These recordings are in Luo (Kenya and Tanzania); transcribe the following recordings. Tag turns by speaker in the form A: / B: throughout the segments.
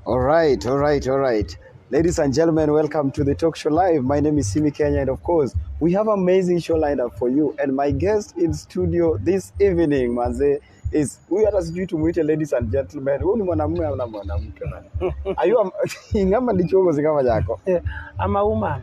A: All right, all right, all right. Ladies and gentlemen, welcome to the Talk Show Live. My name is Simi Kenya, and of course, we have amazing show lined up for you. And my guest in studio this evening, Manze, is huyu hata sijui tumuite ladies and gentlemen. Huyu ni mwanamume au na mwanamke? Are you a- ingama ndicho huko zingama yako?
B: I'm a woman.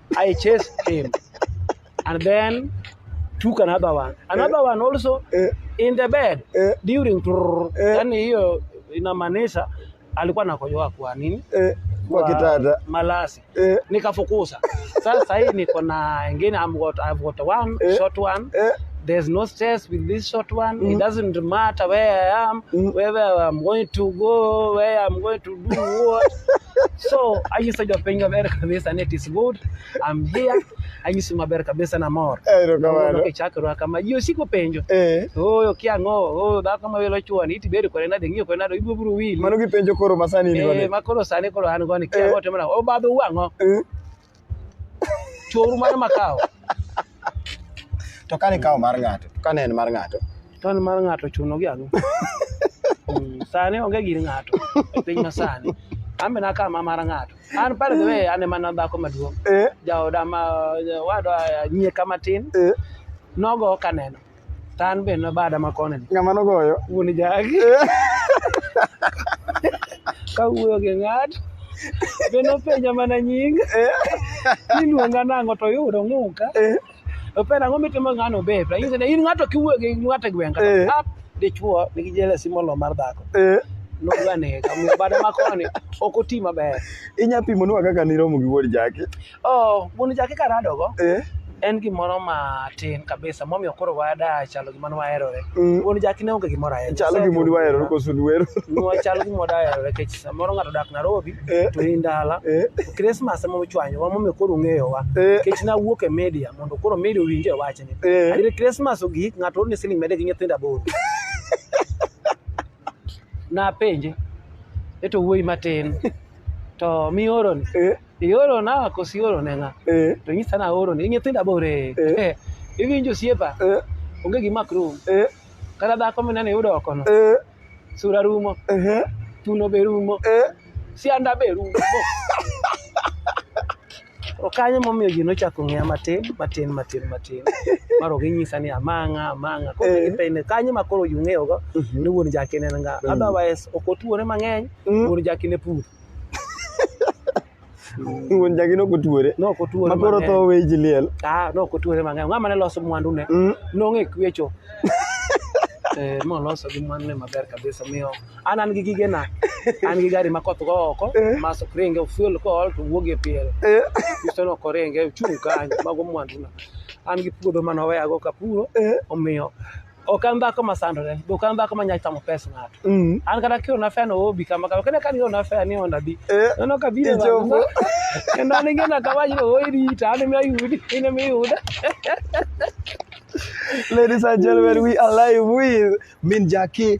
B: I chased him. And then took another one. Another one also Eh. in the bed Eh. during trrr. Eh. Yaani hiyo inamaanisha alikuwa nakojoa kwa nini? Eh, kwa kitanda.
A: Malasi. Eh,
B: Nikafukuza. Sasa hii niko na ingine I'm got, I've got one Eh. short one. eh, There's no stress with this short one. It doesn't matter where I am, whether I'm going to go, where I'm going to do what? so anyi sa jopiny maber kabisa ni it is good I'm here anyisi maber kabisa na mor Erokamano. kichakra kama ji osiko penjo Eh, oyo kiang'o oyo dhako ma welo chwani iti bedo kore nade ng'iyo kore nade ibiro biro wili mano gipenjo koro masani
A: in Eh, godo. ma koro sani koro an goni
B: kiang'o timna obadho wang'o Eh, Choru mar makawo. To
A: kane kawo mar ng'ato, to kane en mar ng'ato. To en mar ng'ato
B: chuno gi ang'o? Mm, sani onge gir ng'ato e piny masani. An be nakawo ma mar ng'ato. An pale the way an ema na dhako maduong'. Eh, Jaoda ma wadwa nyie kama tin eh. nogo kaneno. To an be nabada ma koni. Ng'ama nogoyo? Wuon
A: jagi.
B: Ka wuoyo gi ng'at. Be nopenja mana nying. Eh. Niluonga nang'o to yudo ng'uka. Eh. Opera ang'o mitimo ng'ano be. Anyise ni in ng'ato kiwuoyo gi ng'ato e gweng' kata. Eh. Ah, dichwo nigi jealousy molo mar dhako. Eh. Nodwa nega. Bada ma koni ok oti maber. Inya pimonwa kaka
A: niromo gi wuod jaki? Oh, wuon
B: jaki karadogo. Eh. En gimoro matin kabisa momiyo koro wada chalo gima ne waherore. Mm. Wuon jaki ne onge gimoro aherore. Chalo gima ne waherore koso
A: ne wero. Nwa chalo gima wada
B: aherore kech samoro ng'ato dak Nairobi eh. to in dala. Eh. Christmas ema ochwanyo wa momiyo koro ung'eyo wa. Eh. Kech na wuok e media mondo koro media owinje wachni. Eh. Adire Christmas ogik ng'ato orne siling mede gi nyithindo aboro. Napenje. Eto wuoyi matin. To mioroni. Eh. Ioro na kosi ioro ne ng'a? Eh. To nyisa na oro ni nyithinda bore. Eh. eh. Iwinjo siepa? Eh. Onge gima krum. Eh. Kata dhako mineno iyudo oko no. Eh. Sura rumo. Eh. Tuno be rumo. Eh. Sianda be rumo. Okanyo momiyo ji nochako ng'eya matin matin matin matin. Maro ginyisa ni amang'a amang'a. Koro eh. gipende kanyo ma koro yung'eyogo mhm. ni wuon jakine nga. Mhm. Otherwise ok otuore mang'eny mm. wuon jakine pur.
A: Wuon jagi nok otuore. Nok otuore. Ma koro tho weyi ji liel. Ah, nok otuore mang'eny.
B: Ng'ama ne loso mwandu ne. Mm. Nong'e kwecho. Eh, ma loso gi mwandu ne maber kabisa miyo an an gi gige na an gi gari ma koth go oko eh. ma sokringe fuel ko ol to wuog e piel eh. iso no koringe chung kanyo mago mwandu na an gi puodho ma noweya go kapuro omiyo ok an dhako ma sandore be ok an dhako ma nyalo chamo pes ng'ato Mm. an kata kiol na feno obi kama kama kene kani ona feno ni onda di Eh, nono kabiro ichopo.
A: kendo an
B: ingena kawaji no oi rita an mi ayudi in mi yuda
A: Ladies and gentlemen, we are live with Min Jackie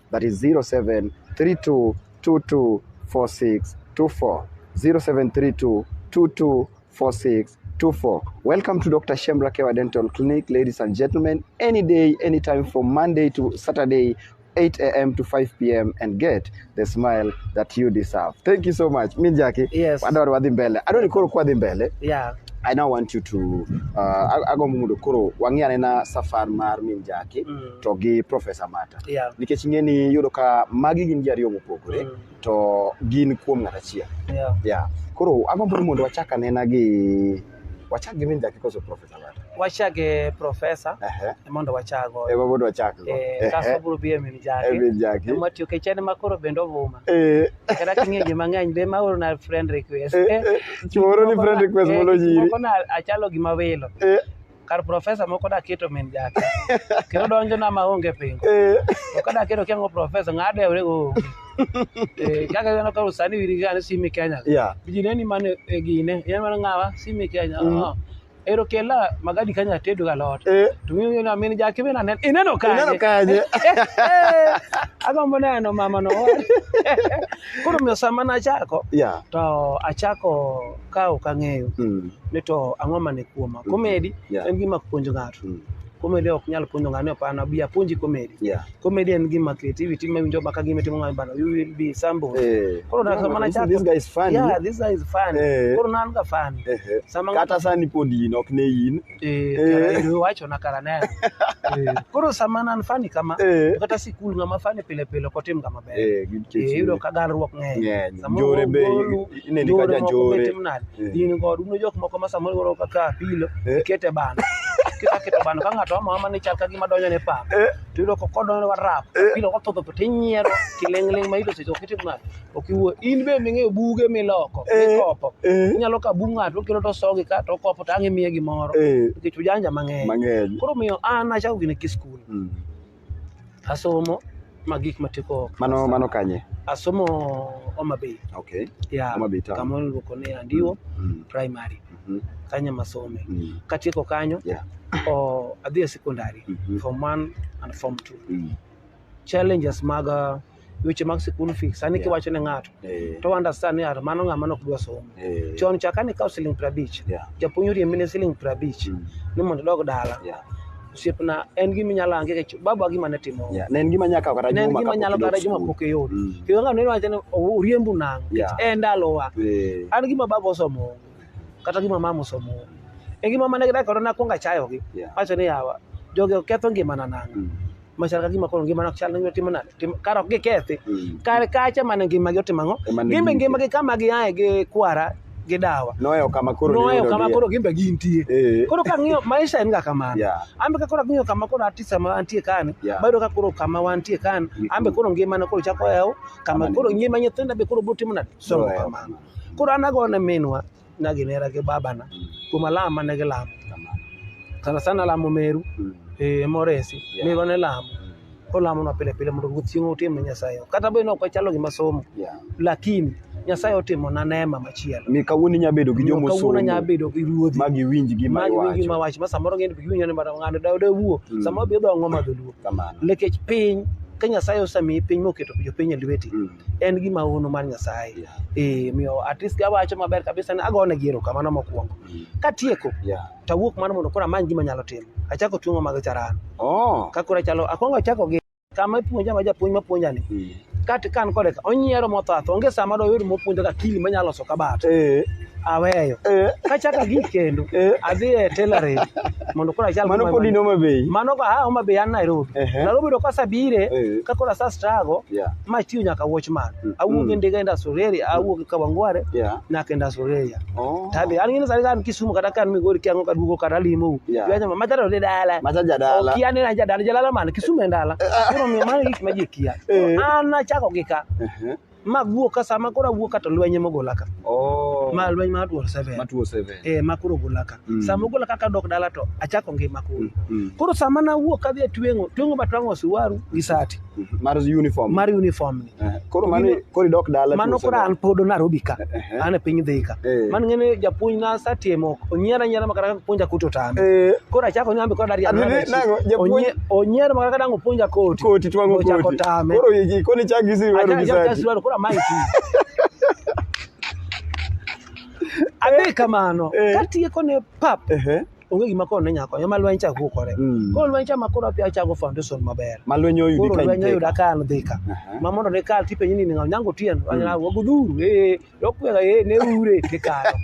A: that is 0732224624 0732224624 welcome to dr shemra kewa dental clinic ladies and gentlemen any day anytime from monday to saturday 8 a.m. to 5 p.m. and get the smile that you deserve. Thank you so much. Mi Jackie, Yes. wadwar wadhi mbele.
B: Adwaro
A: ni koro kwa dhi mbele. Yeah. I now
B: want you to
A: uh, ago mundo koro wang'e anena safar mar min Jackie. Mm. to gi Professor Mata. Yeah. Nikech ing'e ni
B: yudo
A: ka magi gin ji ariyo mopogore mm. to gin kuom ng'at achiel. Yeah. Yeah.
B: Koro
A: agombo ni mondo wachak anena gi wachak gi min dakika koso Professor Mata. Wachak gi
B: Professor uh -huh. E mondo wachak go. Ema mondo wachak go.
A: Eh, kaso biro bi e
B: min jaki. E min jaki. Ema tiyo ke
A: chene ma koro
B: bende ovuma. Eh. Kata king'e ji mang'eny be ma oro na friend request. Eh, eh. Chuoro ni
A: friend request eh, mondo nyiri. Moko na achalo
B: gima welo. Eh. kar profesa moko da keto min jake kendo donjo na ma onge pingo eh. to kada keto kia ngo profesa ngade ore go eh kaka gano ka usani wiri gane simi Kenya yeah bijine ni mane
A: eh,
B: gine yan mane ngawa simi Kenya mm. oh. ero kela magadi kanya tedo ga lot eh. to mi ni amin ja ke bena nen ineno ka ineno ka je aga mo na no mama no kuro mi sama na chako yeah to
A: achako
B: ka ok ang'eyo Mm. ni to ang'o mane kuoma Mhm. komedi Yeah. en gima puonjo ng'ato Mm. komedi ok nyal puonjo ng'ato ni opana bi apuonji komedi Yeah. komedi en
A: gima
B: creativity ma winjo baka gima timo ng'ato bana you will be sambo Eh. Koro na- No, mana this- chako- this guy is funny. yeah
A: this guy is fun
B: Eh. koro na an ga fun Eh, eh. sama ng'ato Kata sani
A: pod in ok ne in. Eh, Eh. kara in
B: iwacho na kara neno. Eh, Koro sama nan fani kama, Eh. kata sikul ng'ama fani pile pile ok otim ng'ama ber. Eh, gi nikech- Eh, Iyudo ka garruok ng'eny. Ng'eny. Samoro Njore be ogolu,
A: ineni ka njore moko janjore. be tim nade. Eh. In god
B: uno jok moko ma samoro iwaro kaka pilo, Eh. ikete bano. Kiseketo bano ka ng'ato ama ama ni chal ka gima donjo ne pap. Eh. To iyudo ka kodonjo ne warap. Eh. Pilo kothodho to tinyiero kiling'ling' ma iyudo seche ok itim nade. Ok iwuo. In be ming'eyo buge miloko, Eh, mikopo. eh. Inyalo kawo bug ng'ato okelo to osogi ka to okopo to ang' imiye gimoro. Eh, Nikech ujanja mang'eny. mang'eny. Koro miyo an achako gine ki skul. Mm. Asomo ma gik matieko. Mano mano kanye?
A: Asomo
B: Homa Bay. Okay. Ya. Homa
A: Bay town. Kama
B: iluongo
A: ni Andiwo
B: Mm. primary. Mhm. Kanya masome. Mm. Katieko kanyo. Yeah. o
A: adhi e
B: secondary Mhm. form 1 and form 2 Mm. challenges mag uh, weche mag school fees sani Yeah. kiwacho ne ng'ato Eh, to understand ni ng'ato mano ng'ama nok dwa somo eh, chon cha kane ikawo siling piero abich yeah, japuonj oriembi ne siling piero abich mm, ni mondo idog dala yeah, osiepna en gima inyalo ange kech baba gima ne timo yeah. Ne en gima nyaka kawo kata
A: ne en juma gima kapok nyalo idok kata juma
B: skul. pok iyud Mm, kendo ng'ato ne wacho ni "Oh, uriembu nang'o Yeah. nikech en ndalowa eh, an gima baba osomo kata gima mama osomo e gima mane gidak koro nakwongo achayogi yeah, wacho ni yawa jogi oketho ngimana nang'o mm, machal ka gima koro ngima nok chal ngima timo nade Tim- kar ok gikethi Mm. kar kacha mana ngima gi otimo ang'o Ema ne gin be gin- ngima gi kama giaye gi kwara gi dawa Noweyo kama koro noweyo
A: niyudogie. kama koro gin be gintie Eh.
B: koro ka ng'iyo maisha en ga kamano Yeah. an be ka koro ang'iyo kama koro atis sama antie kani Yeah. bayudo ka koro kama wantie kani Ni an be kuro. koro ngimana koro chako yaw Kama kama ni- koro ngima nyithinda be koro botimo nade somo Noweyo kamano koro an agone minwa na ginera gi babana Mm. kuom alam mane gilamo Kamano. sana sana lamo meru Mm. eh, moresi Yeah. meru ne lamo Mm. olamonwa pile pile mondo ruoth chieng' otim ne nyasaye kata bed ni ok wachalo gima somo Yeah. lakini nyasaye otimona neema machielo Mi kawuono inya bedo gi
A: Omiyo kawuono nya jomosomo bedo gi ruodhi
B: ma giwinj gima
A: magi wingi iwacho. ma wach ma samoro ng'eny
B: be giwinjo ni bada ng'ano da da wuo Mm. samoro bi odongo ma dholuo Kamano. lekech piny ka nyasaye osamiyi piny moketo jopiny e lweti Mm. en gi maono mar Nyasaye. Yeah. Eh, miyo at least awacho maber kabisa ni agone gi erokamano mokwongo. Mm. Katieko Yeah. to awuok mano mondo koro amany gima nyalo timo. Achako tuong'o mag charan. Oh. Ka koro achalo akwongo achako gi kama ipuonja ma japuonj mapuonja ni Mm. kat kan kode ka onyiero mothatho onge sama doyud mopuonjo ka kili manyalo loso kabat. Eh. aweyo Eh. kachaka gi kendo Eh. adhi e tailoring mondo koro achal Mano kama- pod in Homa Bay.
A: mano ka ah, Homa Bay an
B: Nairobi Ehe. Nairobi to kasabire Eh. ka koro asa struggle Yeah. ma tiyo nyaka watchman Mm. awuok Mm. e ndiga enda Soreria awuok e Kawangware Yeah. nyaka enda Soreria Oh. tadhi an ngine sani ka an Kisumu kata ka an Migori kiango ka duogo kata limo Yeah. yeah. ma jadala de dala Macha jadala. okia ni
A: na jadala jalala
B: man Kisumu en dala koro miyo mano gik ma ji kia Eh. an nachako gi ka Ehe. ma guo ka sama koro awuo ka to lweny ema ogola ka oh ma lweny ma duol seven ma 207 eh ma koro ogola ka Mm. sama ogola ka kadok dala to achako ngima koro Mm, koro sama nawuok kadhi e tweng'o tweng'o ma twang'o siwaru gi sati mm. mar uniform
A: mar uniform ni Eh, koro mano koro idok dala mano 207. koro an pod
B: Nairobi ka Ehe. an e piny Thika. Eh. Man ng'ene japuonj na asatiemo onyiera anyiera makata kaka puonja koti otame. Eh, Koro achako ni ambe kod Adhi Ariana. ni- nang'o, japuonj- Onyiera makata kaka dango puonja koti. koti twang'o Ochako koti. tame.
A: Koro yiki koni chak gi sirwaro Achako gi achako sati. sirwaro koro amayi ti.
B: Adhi kamano. Eh. Katieko ne pap. Ehe. onge gima koro ne nyalo konyo ma lweny cha kukore Mm. koro lweny cha ma koro apia chago foundation maber Ma lwenyo oyudi koro ka lweny
A: oyuda intie. ka an
B: dhika Aha. ma mondo ne kal tipenyi ni ng'aw nyango tien anyala wago dhuru ee dokwega ee ne ure kikalo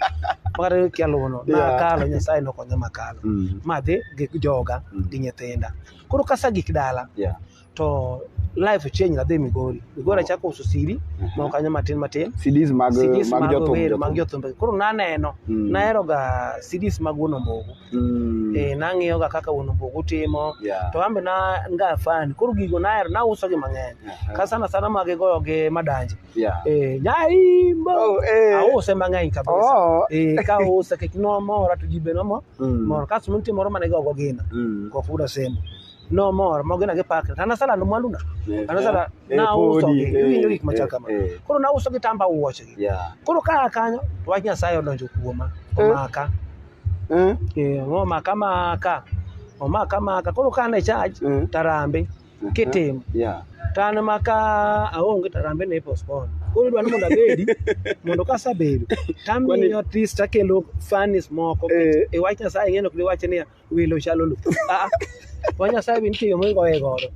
B: makata kialuwono Yeah. nakalo nyasaye nokonya makalo Mm. madhi gi joga Mm. gi nyithinda koro kasa gik dala Yeah. to life change nadhi Migori. Migori achako uso CD moko kanyo matin matin. CDs mag CDs
A: mag mag jothum. wero mag jothum.
B: jothumbe. Koro naneno, Mm. naheroga CDs mag Wuon Ombogo. Mm. Eh, nang'iyoga kaka Wuon Ombogo timo. Yeah. To ambe na nga fan. Koro gigo nahero, nausogi mang'eny. Aha. Ka sana sana mag goyo gi madanje. Yeah. Eh, nyaimbo. Oh, eh. Ause mang'eny kabisa. Oh. Eh, ka use kech nomora to ji be nomor. Mm. Mor kasto nitie moro mane gogo gina. Mm. Kofuda semo. nomor mago gin agipakre to anasalando mwanduna anasala Eh, nauso podi, gi- eh, iwinjo gik machal eh, kama eh. koro nauso gi tamba wuochegi Yeah. koro kaa kanyo to wach nyasaye odonjo kuoma Eh. omaka Eh, Eh, omaka maka omaka maka koro ka ne chaj Mm. tarambe eh, kitimo Yeah. to an maka aonge tarambe ne postpone koro idwa ni mondo abedi mondo kasabedo tamiyo tis takelo fanis moko Eh. e wach nyasaye ng'eno kdi wache niya welo chalo lu ah wa nyasaye bin tiyo mungo e godo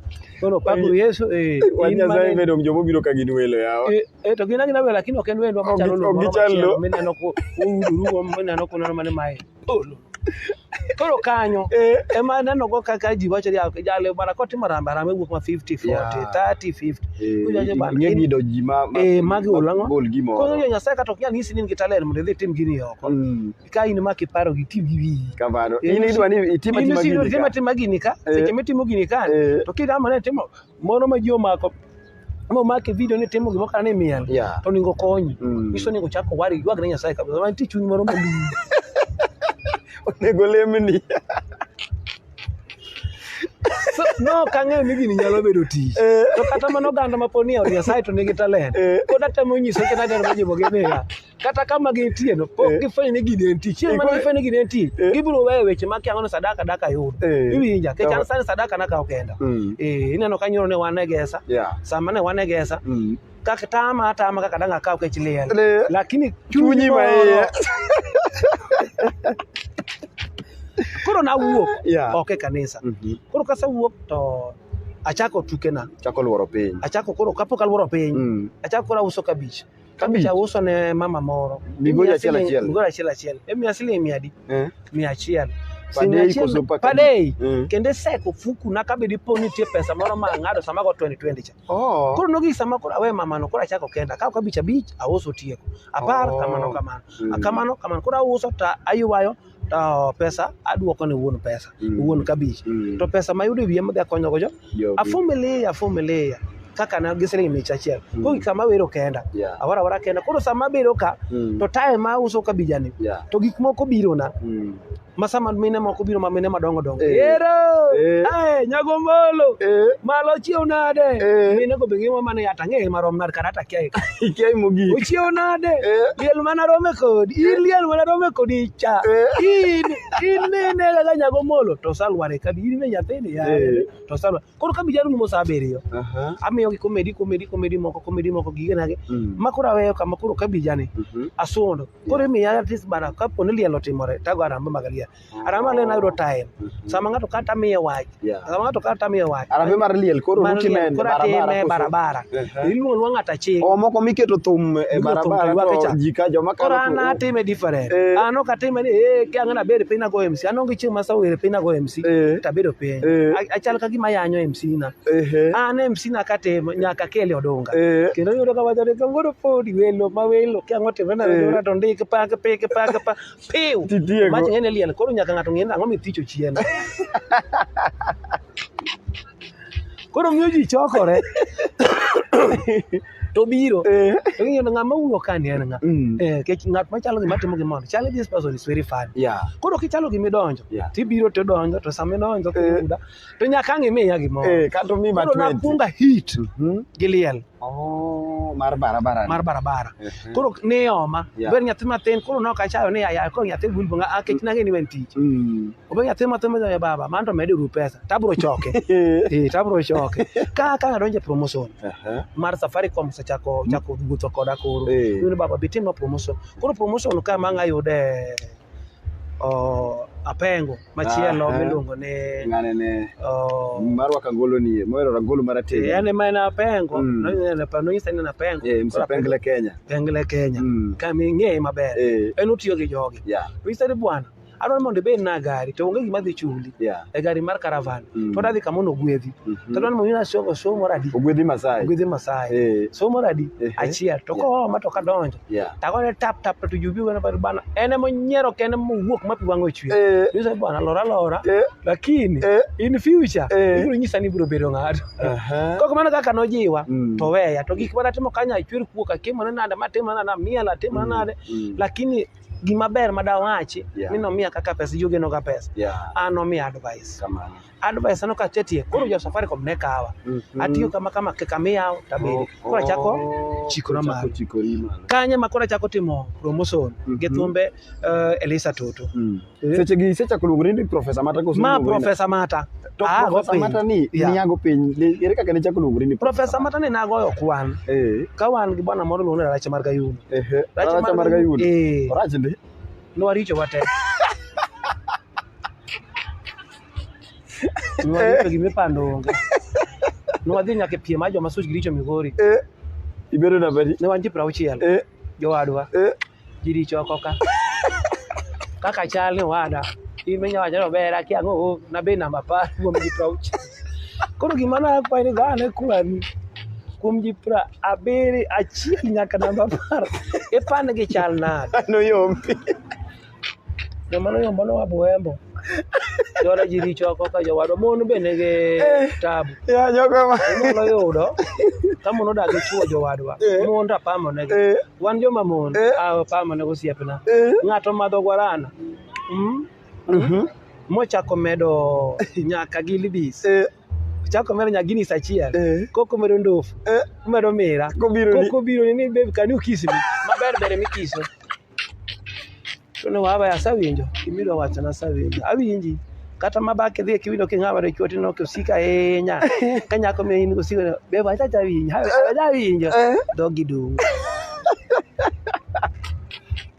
B: kono pakuru yesu eh Wan in Nyasaye mane-
A: bedong' joma obiro ka gin welo yawa. Eh, eh, to gin agina welo
B: lakini ok en wendwa Ok machalo gi- lu ok moro gichal machielo lu. mineno ku udurugo mineno kuneno mane mae Oh, lu. koro kanyo Eh. ema nenogo kaka ji wacho ni "Ah, jale bana kotimo rambe rambe wuok ma 50 40 Yeah. 30 50 Eh, Ujaje bana, ing'e in- gido ji ma ma-
A: Eh, magi ma- olang'o?
B: gol gimoro. koro jo nyasaye kata ok nyal nyisi ni in gi talent mondo idhi itim gini oko Mm. ka in ma kiparo gi ti gi wiyi kamano Eh, in idwa
A: ni itima in tima si gini itima ka tima
B: gini ka Eh. seche mitimo gini ka Eh. to kidama ne timo moro ma ji omako ma omako e video ni timo gimoro kana ni miel Yeah. to onego konyi Mm. nyiso ni ochak owari ywag ne nyasaye kabisa ma nitie chuny moro maduong' onego
A: lemni
B: So, no ok ang'eyo ni gini nyalo bedo tich Eh. to kata mana oganda ma pod ni e od nyasaye to nigi talent Eh. pod atemo nyiso kata dero ma jibogi niya kata kama gintie no pok Eh. gifwenyo ni gini entie chieng' mane Igwe- gifwenyo ni gini entie Eh. gibiro weyo weche ma kiang'o ni sadaka daka yud Eh. iwinja kech an Kama- sani sadaka nakawo kenda Mm. Eh, ineno ka nyoro ne wan e gesa Yeah. sama ne wan e gesa Mm. kaka tama atama kaka dang' akaw kech liel Le- lakini Chunyi moro- maiye. koro nawuok Yeah. ok e kanisa Mhm. koro kasewuok to achako tukena Chako luoro piny.
A: achako koro kapok aluoro
B: piny Mm. achako koro auso kabich Kabich. Kabich auso ne mama moro. Migoli Imiya achiel siling- achiel.
A: Migoli achiel
B: achiel. Emiya siling mia adi? Eh.
A: Mia
B: achiel. Per Siling day achiel- koso per per day. Mm. Kendo iseko fuku na kabe dipo ni nitie pesa moro ma ang'ado sama go 2020 cha. Oh. Koro nogi sama koro awe mamano koro achako kenda. Akawo kabich abich auso tieko. Apar Oh. kamano kamano. Mm. Kamano kamano. Koro auso ta aywayo to oh, pesa aduoko ne wuon pesa mm. wuon kabich mm. to pesa mayudo e wiye madhi akonyogo jo afumilia afumilia kaka na gi siling micha achiel mm. koro kama wero kenda yeah. awara awara kenda koro sama abedo ka mm. to tae ma uso kabijani yeah. to gik moko biro na mm. masama mine moko biro ma mine madongo dongo eh. ero eh. nyago mbolo eh. malo chiew nade mine go be ngima mane yata ang'eye marom nade kata atakiaye ka ikiaye mogik ochiewo nade Eh. liel mana rome kodi in liel mana rome kodi cha Eh. in in nene kaka nyago molo to salware kabi in be nyathini ya Eh. to salware koro kabi jarumo saa abiriyo Aha. amiyogi komedi komedi komedi moko komedi moko gigenage Mm. ma koro aweyo kama koro kabijani Mhm. asundo koro imiya atis bara kapo ni liel otimore tago aramba magalia Arama le nayudo time. Sama ng'ato kata miye wach. Yeah. Sama ng'ato kata miye wach.
A: Arambe mar liel koro Mar ruti liel, ne koro atime barabara. barabara.
B: Ehe. Iluongo luongo ng'ato aching'. O moko miketo thum e
A: Miketo thum barabara to iwake cha. to ji ka joma Koro an kalo atime
B: different. Eh. An ok atime ni eh kia ng'ana bedo piny nago MC. An onge chieng' ma sawere piny nago MC. Eh. Tabedo piny. Eh. A- Achal ka gima yanyo MC na. Ehe. An MC na katimo nyaka kele odonga. Eh. Kendo yudo ka wacho ni kangoro podi welo ma welo kia ngotimre na Eh. welo to ndik pa pa pa pa pa. Piu. Titieko. Mach ng'eny e liel, koro nyaka ng'ato ng'e ni ang'o mithicho chien. Koro miyo ji chokore. To biro. Eh. To ng'iyo ni ng'ama uno ka ni en ng'a. Mm. Eh, kech ng'at machalo gima timo gimoro. Chali this person is very funny. Yeah. Koro kichalo gima idonjo, Yeah. tibiro to idonjo, to sama idonjo Eh. kiyuda, to nyaka ang' imiya gimoro. Eh, kato mi ma Koro 20. nakwonga
A: hit
B: Mhm. gi liel. Oh, mar
A: barabara. mar barabara Mhm. koro ne
B: oma Yeah. ber nyathi matin koro nok achayo ni yaya koro nyathi wil bunga ah kech nange ni wen tich Mm. obe nyathi matin ma ya baba man to medo ru pesa tabro choke eh tabro choke ka ka adonje promotion Aha. mar safaricom sechako chako wuotho koda koro Eh. yudo baba bitim ma promotion koro promotion ka ma ngayude o apengo machielo ah, miluongo ni ng'ane ne oh.
A: mar waka ngolo ni moero rangolo mara te eh, yani ma na pengo
B: mm. no ne pa no yisa na pengo eh msa pengle Kenya
A: pengle Kenya mm. kama ng'e
B: maber eh. en utiyo gi jogi yeah. to yisa bwana adwaro mondo ibed na gari to onge gima dhi chuli yeah. e gari mar caravan mm. to adhi kama ogwedhi mm -hmm. to adwaro mondo ina somo somo radi ogwedhi masai ogwedhi
A: masai eh. somo radi
B: eh. achiel to yeah. kohoma to kadonjo Yeah. To agone tap tap to jubi wana bari bana. En ema onyiero kende mowuok ma pi wang'e ochwe. Eh, Nyiso bwana lora lora. eh, Lakini eh, in future Eh. ibiro nyisa ni ibiro bedo ng'ato. aha. Kok mano kaka nojiwa Mm. to weya to gik mana timo kanya achwer kuok atimo ne nade matimo nade amiel atimo ne nade Mm. lakini gima ber ma dawachi Yeah. ni nomiya kaka pesa yogeno ga pesa Yeah. an nomiya advice Kamano. advice aneno ka asetie koro jo safaricom ne kawa atiyo kama kama kik amiyaw tabedi koro achako chikora malo kanye ma koro achako timo promotion gi Mhm. thumbe eh, elisa toto Eh. seche gi isechako
A: luongo ni profesa mata koso ma profesa mata
B: to Ah, profesa go mata piny.
A: ni Yeah. niago piny Ne- ere kaka nichako luongo ni profesa mata ne nagoyo
B: kwan eh ka wan gi bwana moro luongo ni rache mar gayuno ehe Rache racha mar
A: gayudo eh orach ndi nowaricho wate
B: Nwagipe gima ipando onge. Nwadhi nyaka e piem mar joma such giricho Migori. Eh, ibedo
A: namba di? Ne wan ji piero auchiel. Eh,
B: Jowadwa. eh. Ji richo oko ka. Kaka chal ni wada. In menya wacho ni ober aki ang'o o, nabe namba apar kuom ji piero auchiel. Koro gima nakwayo ni dhano e kwani. Kuom ji piero abiri achiel nyaka namba apar. Ipand gi chal nade? Ano yombi. Jomano yombo no abuembo. Jona ji richo oko ka jowadwa mon be nigi eh, tabu. Ya jogo ma.
A: Inyalo yudo
B: ka mon odak gi chuo jowadwa. Eh. Mon to apamo negi. Eh. Wan joma mon apamo nego osiepna. Ng'ato madho guarana. Mm. Mhm. Mochako medo nyaka gi libis. chako medo nya guinness achiel eh. koko medo ndofu eh. medo mira koko biro ni babe can you kiss me maber bere mikiso to ne waba asewinjo gimidwa wacho nasewinjo awinji kata ma bak idhi kiwinjo king'ama re chwati no kosika ahinya ka nyako mi in kosika be ba chacha winjo ja winjo dogi dum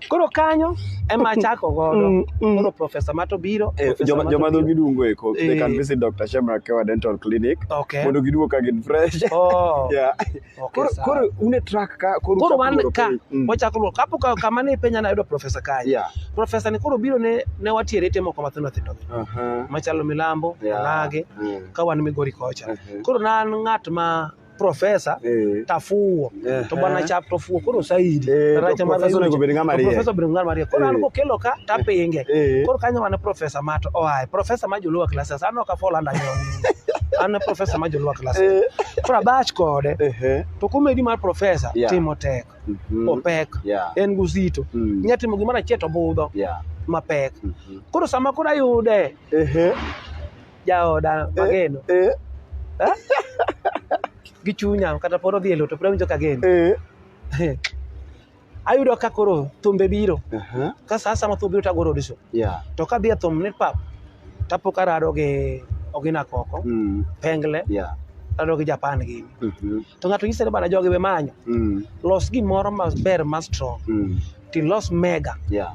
B: koro kanyo ema achako godo koro profesa mato biro Eh, Professor joma Mato joma biro. dhogi
A: dungo eko they can Eh. visit Dr. Shemra Kewa Dental Clinic okay mondo giduog ka
B: gin
A: fresh oh yeah
B: Okay, Koro-
A: sawa. koro
B: un e track
A: ka koro koro uchako wan loro ka piny.
B: Mm. wachako luwo kapo ka- kama ne penja nayudo profesa kanye Yeah. profesa ni
A: koro biro
B: ne ne watiere ite moko mathindo thindo gi Aha. machalo milambo Yeah. alage Mm. ka wan migori kocha Mhm. koro na an ng'at ma profesa Eh. tafuwo Eh. to bwana chap tofuwo koro saidi Eh, to Racha mar profesa onego bed ng'ama riek. profesa obedo ng'ama riek koro an Eh. kokelo ka tapinge Eh. koro kanyo wan profesa mat oaye profesa ma joluwa classes an ok afol andanyoni an profesa ma jolwak klas Eh. koro abach kode Ehe. to komedi mar profesa Yeah. timo tek Mhm. opek Yeah. en guzito Mm. inya timo gimoro achiel to budho Yeah. mapek Mhm. koro sama koro ayude Ehe. jaoda mageno Eh. gi chunya kata pod odhi e loto pod awinjo kageno Eh. ayudo ka koro thumbe biro Aha, ka saa sama thum biro tagoro audition yeah, to kadhi e thum ni pap tapo karado gi ogina koko mm, pengle yeah, rado gi japan gini mhm, to ng'ato nyise ni bana jogi be manyo mm, los gimoro maber ma strong mm, tilos mega yeah.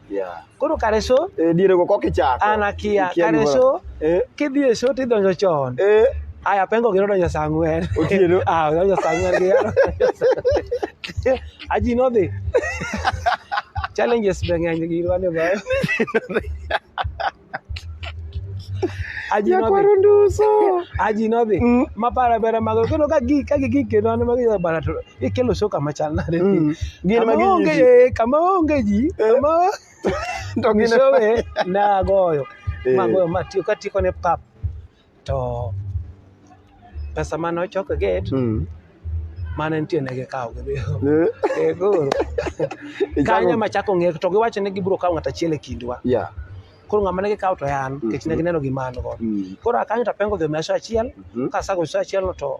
B: Yeah. Koro kare so eh, diere go koki chako.
A: An akia kare so
B: eh. kidhi e so tidonjo chon. Eh. Aya pengo gino donjo saa ang'wen. Otieno. Ah, donjo
A: saa ang'wen gi
B: yaro. Aji nodhi. Challenges be ng'eny gi irwane bayo. Nyakwaro nduso. Aji nodhi. Mm. Ma para para mago kendo ka gi ka gi kendo an ma gi bara to ikelo shoka machal nade. Mm. Gin ma onge kama onge ji eh. kama to gin showe na goyo. Eh. Magoyo ma tiyo ka tiyo ne pap. to pesa mane ochok e gate Mm. mane nitie ne gikawo gidhigo Eh, Eh, koro ichako- kanyo ema chako ng'e to giwacho ni gibiro kawo ng'at achiel e kindwa Yeah. koro ng'ama ne gikawo to en nikech ne Mhm. gineno gima an go Mm. koro akanyo to apengo dhi omiya sa achiel Mhm. kasago sa achielno to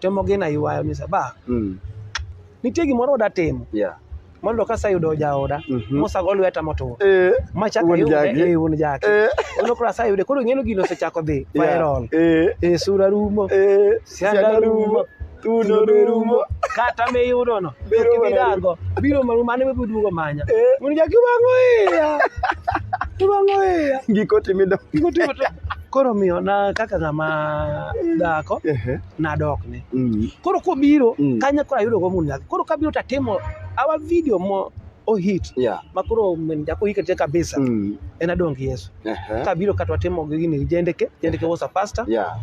B: temo gina ywayo ni saba Mm. nitie gimoro oda timo Yeah. mondo ka aseyudo jaoda Mhm. mosago lweta motur Eh. machaka Wuon jaki. yude wuon jaki Eh. ono koro aseyude koro ing'eno gino osechako dhi Yeah. viral Eh. e sura rumo Eh. Sianda Sianda rumo. rumo. Tuno be rumo. kata miyudono Biro mana kibidago biro maru mane mibiduogo manya Eh. wuon jaki wang'o iya iwang'o iya Giko timido. Giko
A: timo to- Koro
B: omiyo na kaka ng'ama dhako Ehe. nadokne. Mm. Koro kobiro Mm. kanyo koro ayudo go mun nyathi. Koro kabiro to atimo our video mo o hit Yeah. ma koro min jako hike te kabisa Mm. en adong gi Yesu. Ehe. Kabiro kata watimo gi gini jendeke, jendeke was a pastor, Yeah.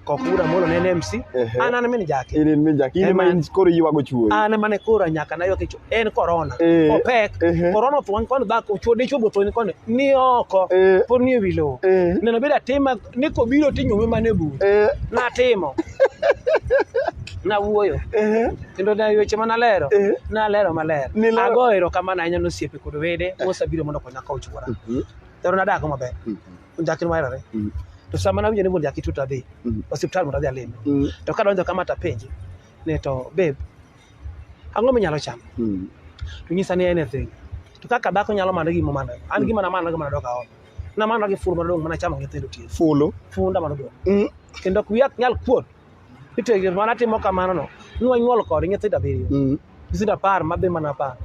B: kokura molo ne en MC. Ehe. An an min jake. Inin mi jaki, in Ema- ma in
A: koro iywago chuori. An mane koro nyaka
B: naywak e cho- en korona Eh. opek Ehe. korona otho wan koni dhako chwo dichwo be otho ni koni ni oko Eh. pod ni ewi lowo Eh. neno bedo atima ni kobiro tinyume mana e bur Eh, natimo nawuoyo eh, kendo na weche ma nalero Eh. nalero maler Nilero- agoyo erokamano ahinya nosiepe kod wede mosebiro mondo okonya ka ochwora mhm, kendo nadako maber mhm, njakin waherore mhm, to sama nawinjo ni wuon jaki tuta dhi mhm, osiptal mondo adhi alime mhm. to kadonjo kama tapenje ne to babe ang'o minyalo chamo Mm. to nyisa ni anything to kaka dhako nyalo manyo gima manyo an gima namanyo gima nadok aol namanyo gi ful madong mana chamo gi tedo tie Fulu. funda madong Mm. kendo ok wiya ok nyal kuot nitie gir mana timo kamano no nwa nyuol kod nyithindo abiriyo Mm. nyithindo apar ma be mana apar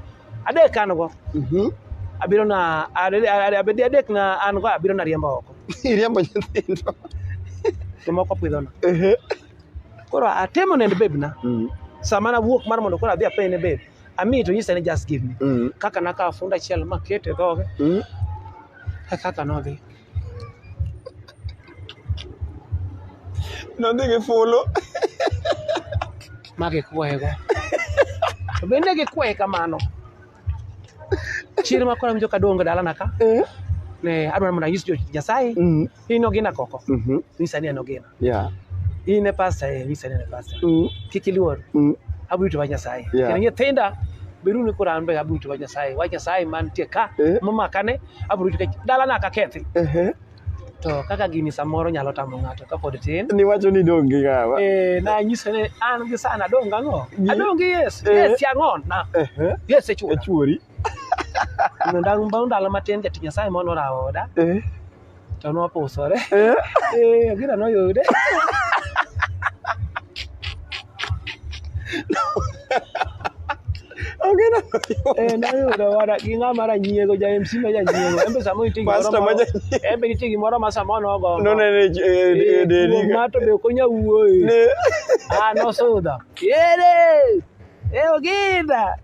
B: adek an go Mhm. abiro na ade- ade- ade- adek na an go abiro na riembo oko Iriambo nyithindo. to moko pidhona Ehe. Koro atemo nend babe na. Mm. Sama na wuok mar mondo koro adhi apeye ne babe. Ami to nyisa ni just give me. Mm. Kaka na ka funda chiel ma kete dhoge. Mm. E kaka no dhi.
A: No dhi gi fulo.
B: Ma gi kwego. To bende gi kwe kamano. Chir ma kora winjo ka duongo dalana ka. Eh. Ne adwaro mondo anyis jo Nyasaye. Mm. In ogina koko. Mhm. Nyisa ni en ogina. Yeah.
A: In e pastor
B: eh, nyisa ni en e pastor. Mm. Kik iluor. Mm. Abrito wach Nyasaye. Yeah. Kendo nyithinda beru ni kora an be abrito wach Nyasaye. Wach Nyasaye mantie ka Eh. momakane abrito kech dalana ka kethi. Ehe. to kaka gini samoro nyalo tamo ng'ato kapod tin niwacho ni dong' gi
A: ng'awa eh, nanyise ni
B: an gi sana adong' gang'o adong' gi yes eh. yes yang'on na yes echuori ndang' bang' ndalo matin jatich nyasaye mono rawo oda eh. to nopusore gina noyude Onge na. Eh, nayudo wada gi ng'a mara nyiego ja MC ma ja nyiego. Embe sama iti gimoro. Pastor ma ja nyiego. Embe iti gimoro ma sama onogo. No ne ne eh, dedi. Eh, ma to be konya wuoyi. Ne. Ah, no suda. Yere. Eh, ogida.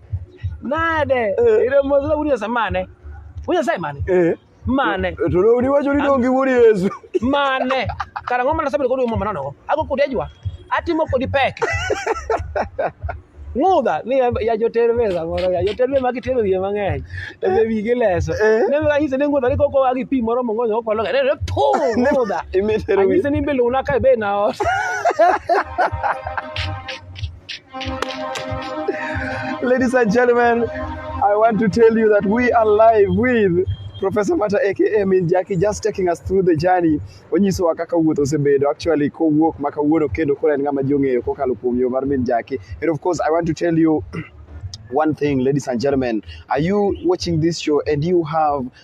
B: Nade. Ire mo zula wunya samane. Wunya sai mane. Eh. mane To ne uniwacho ni
A: dongi wuod Yesu. mane
B: kara ng'o mana sabedo kodi mama nonogo ago kodi ajwa atimo kodi pek ng'udha ni ya- ya joter be samoro ya joter be magi tero wiye mang'eny to be wigi leso Eh. ne mega nyise ni ng'udha ni koko agi pi moro mong'onyo okwalo ga ne ne pu ng'udha Imetero wiye. anyise ni be luna ka be na ot
A: Ladies and gentlemen, I want to tell you that we are live with Professor Mata aka Min Jackie just taking us through the journey. Onyisowa kaka wuoth osebedo actually kowuok ma kawuono kendo koro en ng'ama ji ong'eyo kokalo kuom yo mar Min Jackie. And of course, I want to tell you one thing, ladies and gentlemen, are you watching this show and you have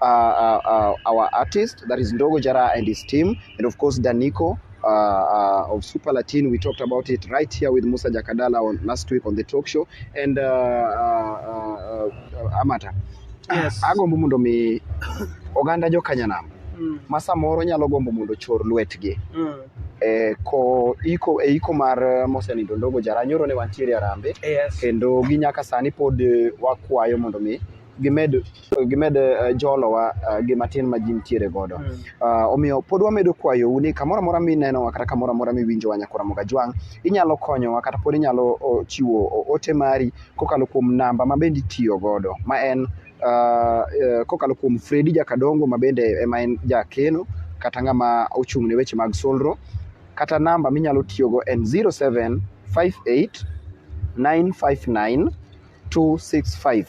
A: uh, uh, uh, our artist that is Ndogo Jara and his team, and of course Daniko. Uh, uh, of Super Latin, we talked about it right here with Musa Jakadala on last week on the talk show, and uh, uh, uh, uh, Amata. Yes. Agombo
B: mondo mi
A: oganda jo Kanyanam Mm, ma samoro nyalo gombo mondo chor lwetgi mm. e ko iko e iko mar eh, mosenindo Ndogo Jara nyoro ne wantiere Arambe Yes. kendo gi nyaka sani pod eh, wakwayo mondo mi gimed gimed eh, jolowa eh, gi matin ma ji nitiere godo Ah, omiyo pod wamedo kwayou ni kamoro amora minenowa kata kamoro amora miwinjowa nyakora mogajwang' inyalo konyowa kata pod inyalo o, chiwo o- ote mari kokalo kuom namba ma bende itiyo godo ma en ah, eh, kokalo kuom Fredi Jakadongo ma bende ema en jakeno kata ng'ama ochung' ne weche mag solro kata namba minyalo tiyogo en 0758 959 265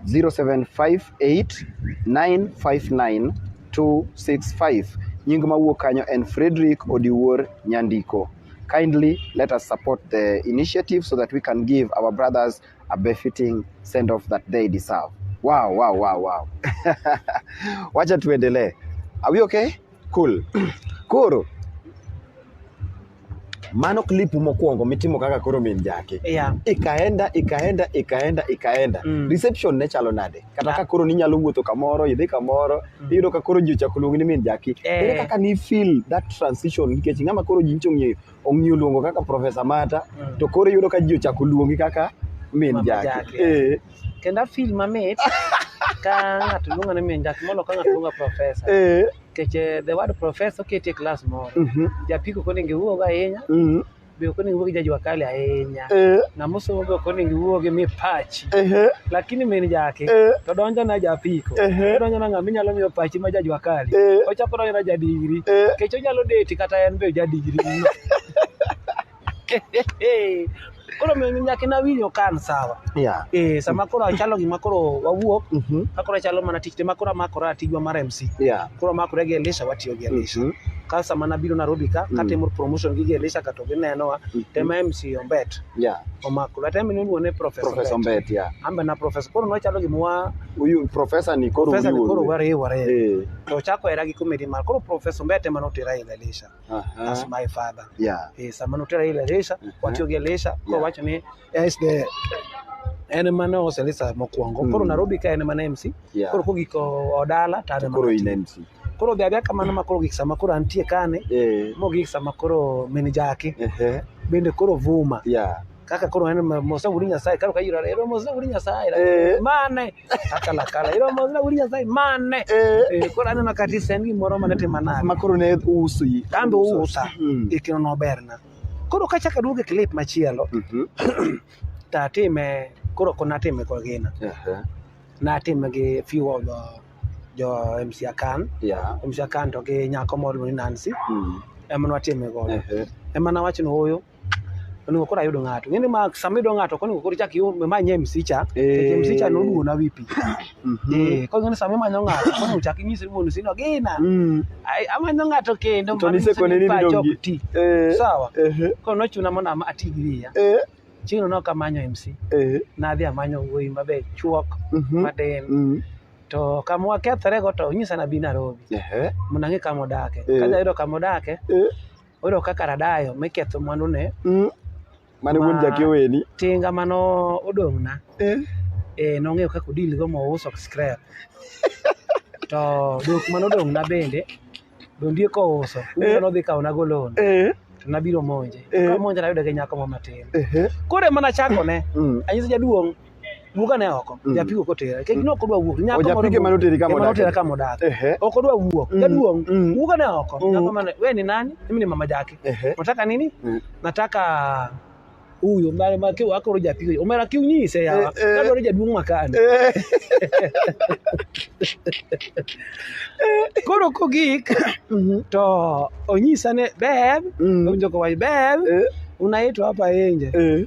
A: 0758959265 nying ma wuok kanyo en Frederick Odiwuor Nyandiko kindly let us support the initiative so that we can give our brothers a befitting send off that they deserve wow wow wow wow wacha tuendelee are we okay Cool. Koro mano clip mokwongo mitimo kaka koro min jake Yeah. ikaenda
B: ikaenda
A: ikaenda ikaenda Mm. reception ne chalo nade kata ka koro ninyalo wuotho kamoro idhi kamoro iyudo ka koro ji ochako luongi ni min jaki Eh. ere kaka ni feel that transition nikech ng'ama koro ji nyicha ong'eyo ong'eyo luongo kaka profesa mata Mm. to koro iyudo ka ji ochako luongi kaka min Mama jaki Jaki. Eh. kendo afil
B: mamit ka ng'ato luonga ni min dak molo ka ng'ato luonga profesa eh. nikech eh, the word profesa oketi e klas moro mhm. japiko ok onego iwuogo ahinya mhm. be ok onego iwuo gi jajwa kali ahinya eh. ng'ama osomo be ok onego iwuo gi mipachi lakini min jaki to donjo na japiko donjo na ng'ama inyalo miyo pachi ma jajwa kali ochako donjo na jadigri nikech onyalo deti kata en be jadigri koro nyaka ina winjo kan sawa yeah. eh, sama koro achalo gima koro wawuok mm -hmm. akoro achalo mana tich ma koro amakora tijwa mar mc yeah. koro amakore gi elisha watiyo gi elisha mm -hmm. ka sama nabiro nairobi ka mm. katimo promotion gi gi elisha kato ginenowa mm -hmm. tema mc ombet yeah. omakore ata mine oluone professor professor ombet yeah. ambe na
A: professor koro
B: nochalo gima wa uyu professor
A: ni koro professor ni koro wariwore eh.
B: to chako era gi comedy mar koro professor ombet ema notera e elisha Uh -huh. That's my father. Yeah. Eh, samano tera ile lesha, uh -huh. watio ge lesha, kwa yeah. wacho ni as the en ema ne oselisa mokwongo mm. koro Nairobi ka en ema ne MC yeah. koro kogiko odala to an koro in MC
A: koro odhi adhiya kamano
B: ma koro gik sama koro antie kane yeah. mogik sama koro mini jaki uh -huh. bende koro vuma yeah. kaka koro en mose wuri nyasaye karo kayira ero mose wuri nyasaye Eh. mane kaka lakala ero mose wuri nyasaye mane Eh. Eh, koro aneno ka ti sen gimoro mane timo nade ma koro ne uso
A: yi kambe ousa
B: Mm. e kino noberna koro kachaka duogo e clip machielo Mhm. to atime koro ko natime kwa gina Aha. natime gi few of the jo MC Akan Yeah. MC Akan to gi nyako moro ni Nancy Mm. ema natime godo Ehe. ema nawacho ni oyo onego koro ayud ng'ato ng'eni ma sama iyudo ng'ato konego koro ichak imanye MC cha Eh. MC cha noduona wipi Mhm. eh koro ng'eni sama imanyo ng'ato konego chak inyise ni mondo sino gina Mm. Ai, amanyo ng'ato kendo To mano nyiso nisekone ni pacha ok
A: nidongi. ti
B: Eh. sawa Ehe. koro nochuna mondo ama- ati gi wiya Eh. chieng'no ne ok amanyo MC Eh. nadhi amanyo wuoyi maber chuok Mhm. matin Mm. to kama wakethorego to onyisa nabi Nairobi Ehe. mondo ang'e kama odake Eh. ka jayudo kama odake Eh. Oyudo kaka radayo miketho mwandune. Mm. Mane
A: wuon jakeweni. Tinga mano
B: odong'na. Eh. Eh, nong'eyo kaka odil go mouso scrap. To dok mano odong'na bende dondie kouso. Eh. Nodhi kawo nago loan. Eh. To nabiro monje. Eh. Kamonje nayude gi nyako ma matin. Eh. Koro ema nachakone. Mm. Anyise jaduong'. wuog ane oko mm. japigo kotere kech ne ok odwa wuok nyako japige mane oteri kama odak otera
A: kama odak
B: ok odwa wuok mm. jaduong mm. wuog ane oko mm. nyako mane wewe ni nani mimi ni mama jake nataka nini mm. nataka huyo mara mara kiwa wako roja pigo umera kiu nyinyi sasa ya kado roja dumu makani koro ko gik mhm. to onyisa ne beb mm. onjo ko wai beb eh. unaitwa hapa nje eh.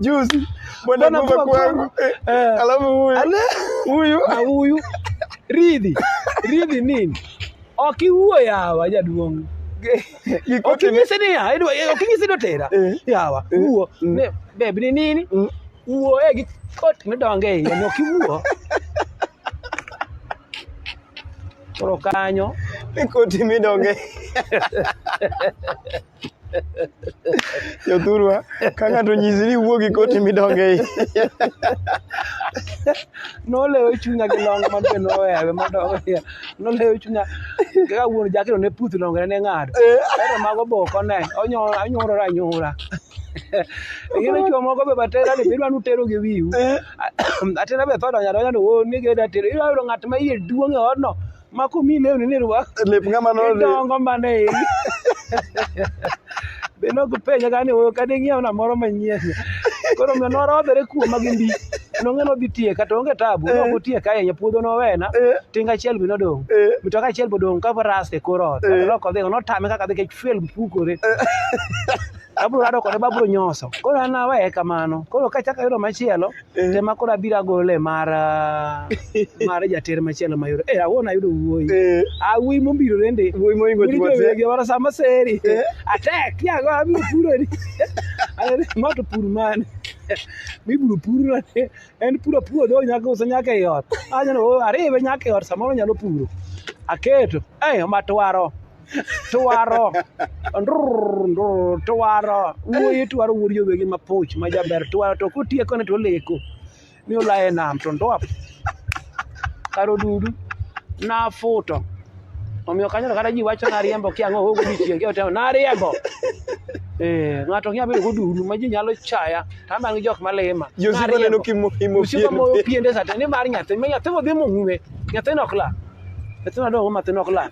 A: juzi Bwana Bwana kufa kufa kwangu. kwangu. Eh, Eh. Alafu huyu. Ale. Huyu. na huyu ridhi ridhi nini okiwuo yawa jaduong' Kikoti ni- okinyise niya idwa- eh, okinyise ni otera Eh. yawa Eh. wuo Mm. ne beb ni nini Mm. wuo e gi kot midonge e iye ni okiwuo koro kanyo Kikoti midonge. Jothurwa, ka ng'ato nyisi ni wuo gi koti midonge i.
B: Nolewo chunya gi long ma be nohewe madongo niya. Nolewo chunya kaka wuon jakeno ne puth longene ne ng'ado. Kaeto mago boko ne, onyo- onyorore anyora. Ing'e ni chwo moko be batera ni bidwa nutero gi wiu. Atera be tho donyo adonyo ni wuon ni geda tero. Iyudo ng'at ma iye duong' e odno ma komi lewni ni rwak lep ng'ama no idongo
A: mana e iri
B: be nok penja ka ni oyo ka ding'iewna moro manyien koro omiyo norodhore kuoma gi mbi nong'e nodhi tieka to onge tabu Eh. nok otieka ahinya puodho nowena Eh. tinga achiel be nodong' Eh. mitoka achiel be odong' ka ras e kor ot Eh. loko dhi notame kaka dhi kech fuel pukore abro rado kode babro nyoso koro an aweye kamano koro kachak ayudo machielo Eh. Tema koro abiro agole mar ah, mar jater machielo mayudo. Eh, awuon ayudo wuoyi. Eh. Awuoyi mombiro rende. Wuoyi moingo chuo te. Wuoyi
A: mara sama seri.
B: Eh. Atek, ya go abiro puro ni. Ayere ma to pur man. Mibiro puro ni. En puro puodho nyaka usa nyaka e ot. Anyo no oh, ariwe nyaka e ot samoro nyalo puro. Aketo. Eh, matwaro. twaro twaro wuoyi twaro wuod jowegi mapuch ma jaber twaro to kotieko ne to oleko ni olaye nam to ndwap karo dudu nafuto omiyo kanyo to kata ji wacho nariembo kiang'o ogo dichieng' kiotemo nariembo Eh, ng'ato ng'e abedo godudu ma ji nyalo chaya to aman gi jok malima Josiko neno kimo
A: imo Josiko pien. moyo
B: piende sate ni mar nyathi ma nyathi modhi mong'we nyathino ok la nyathino dongo nyathino ok la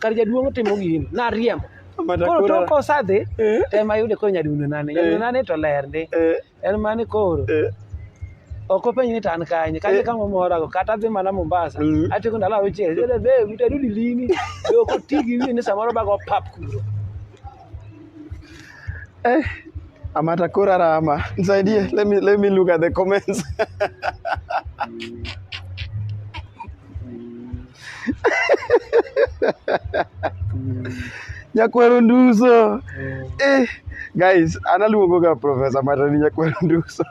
B: kar jaduong' otimo gini nariembo Amata koro kura. tok kosadhi Eh. to ema yude koro nyadundo nane nyadundo nane to ler ndi Eh, en mane koro eh, ok openj ni to an kanye kanye Eh. kama morago kata adhi mana mombasa Mm. atieko ndalo auchiel jele be utarudi lini be ok oti gi wiye ni samoro bago pap kuro
A: eh. Amata kura rama. Nisaidie. Let me let me look at the comments. Nyakwero Nduso. Eh, guys, analuongo ga Professor Mata ni Nyakwero Nduso.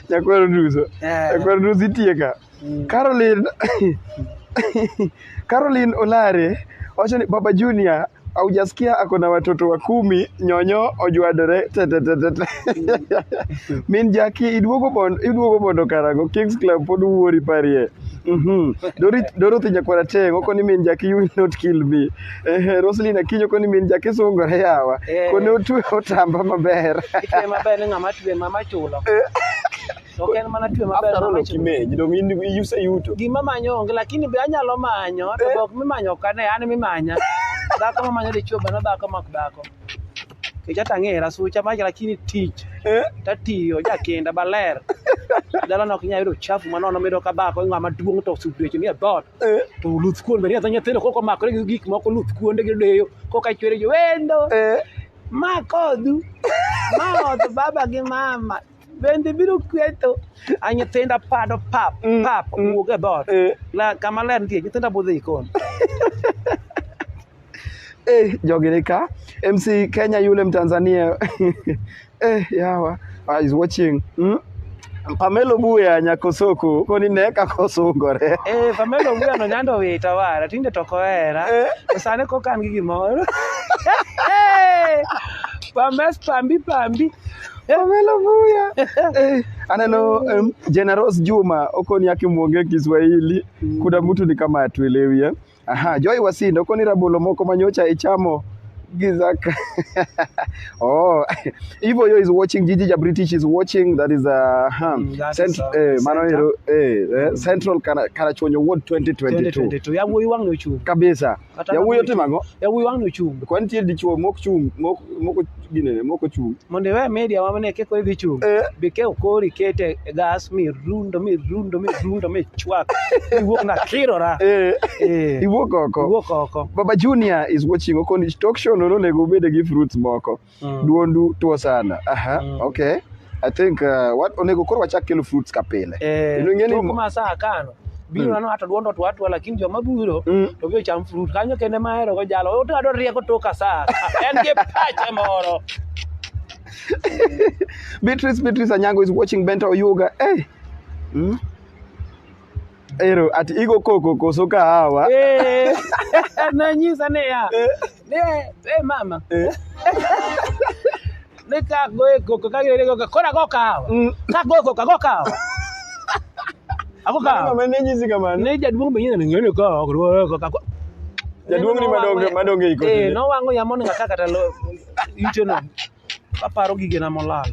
A: Nyakwero Nduso. Eh. Nyakwero Nduso itie ka. Mm. Caroline Caroline Olare wacho ni Baba Junior aujasikia ako na watoto wa kumi nyonyo ojwadore tetetetete min jaki iduogo mondo iduogo mondo karago kings club pod wuori parie Mhm. Dori- dorothy nyakwara teng oko ni min jaki you will not kill me Ehe, roslin akinyo oko ni min jaki sungore yawa Eh. kone otwe otamba maber Itwe maber ni ng'ama
B: twe mama chulo. To ok en mana twe maber After all, mawacho. okimeny, dong
A: in iseyuto. Gima manyo onge lakini
B: be anyalo manyo to Eh. be ok mimanyo ok ane an mimanya. Dhako mamanyo dichwo bana dhako mak dhako. Kecha tang'era sucha mach lakini tich Eh? tatiyo jakenda baler. Dala nok nya yudo chafu manono mido ka dhako ng'ama duong' to sudweche ni e dhoot. Eh? to luth kuon bende adha nyithindo koko makore gi gik moko luth kuonde gi deyo koka chwere jo wendo Eh? ma kodhu ma odh baba gi mama bende biro kweto a nyithinda pado pap Mm, pap mm. wuog e dhoot Eh, La- kama ler nitie nyithinda budho e jikon
A: eh, jogi ni ka mc kenya yule mtanzania eh, yawa ah, is watching mm? pamelo buya nyakosoko koni ne kakosungore Eh, Pamela Owuya
B: no nyando wita wara tinde to kohera Eh. to sani kokan gi gimoro Eh, Pames pambi pambi Pamela
A: Vuya. Eh, aneno um, Generous Juma okoni akimwonge Kiswahili. Kuna mtu ni kama atuelewi eh. Aha, Joy Wasindo okoni rabolo moko manyocha ichamo gizaka. oh, Ivo yo is watching Gigi ja British is watching that is a uh, huh. mm, that Cent is, uh, eh, mano hero eh, eh, Central Karachuonyo Ward 2022. 2022. Ya wuoyi wang' nochung'.
B: Kabisa. Kata Yawuoyi
A: ka- otimo ang'o? Yawuoyi wang' nochung'.
B: Kwan nitie dichwo mok
A: chung' mok mok ginene mok ochung'. Mondo iwe media ma mane
B: keko idhi chung'. Eh. Be ke okori kete e gas mi rundo mi rundo mi rundo mi chwak. Iwuok na kirora. Eh. Eh. Iwuok
A: oko. Iwuok oko. Baba Junior is watching Okonich talk show no onego obed gi fruits moko. Mm. Duondu tuo sana. Aha, Mm. okay. I think uh, what onego koro wachak kelo fruits ka pile. Eh, Kendo ing'e ni tok mo- ma
B: saa kano biro Mm. nano ato duondo to atwa lakini joma biro Mm. to biro cham fruit kanyo kende ma ahero go jalo oto adwa rieko toka saa en gi pache moro
A: Beatrice Beatrice Anyango is watching Benta Oyuga. Hey. Mm. Ero, ati igo koko koso kahawa? Eh,
B: nonyisa niya, ni e mama, Eh. ni ka goye koko ka gire koko, koro ago kahawa. Mm. Ka goye koko ago kahawa. Ago kahawa. Mama ne nyisi kamano. Ne
A: jaduong' be nyina ng'eyo
B: ka ok goye koko. ago- Jaduong'
A: ni madonge- madonge iko Eh, tinde. nowang'o yamo ni ng'aka
B: kata lo- ite no. kaparo gigena molal.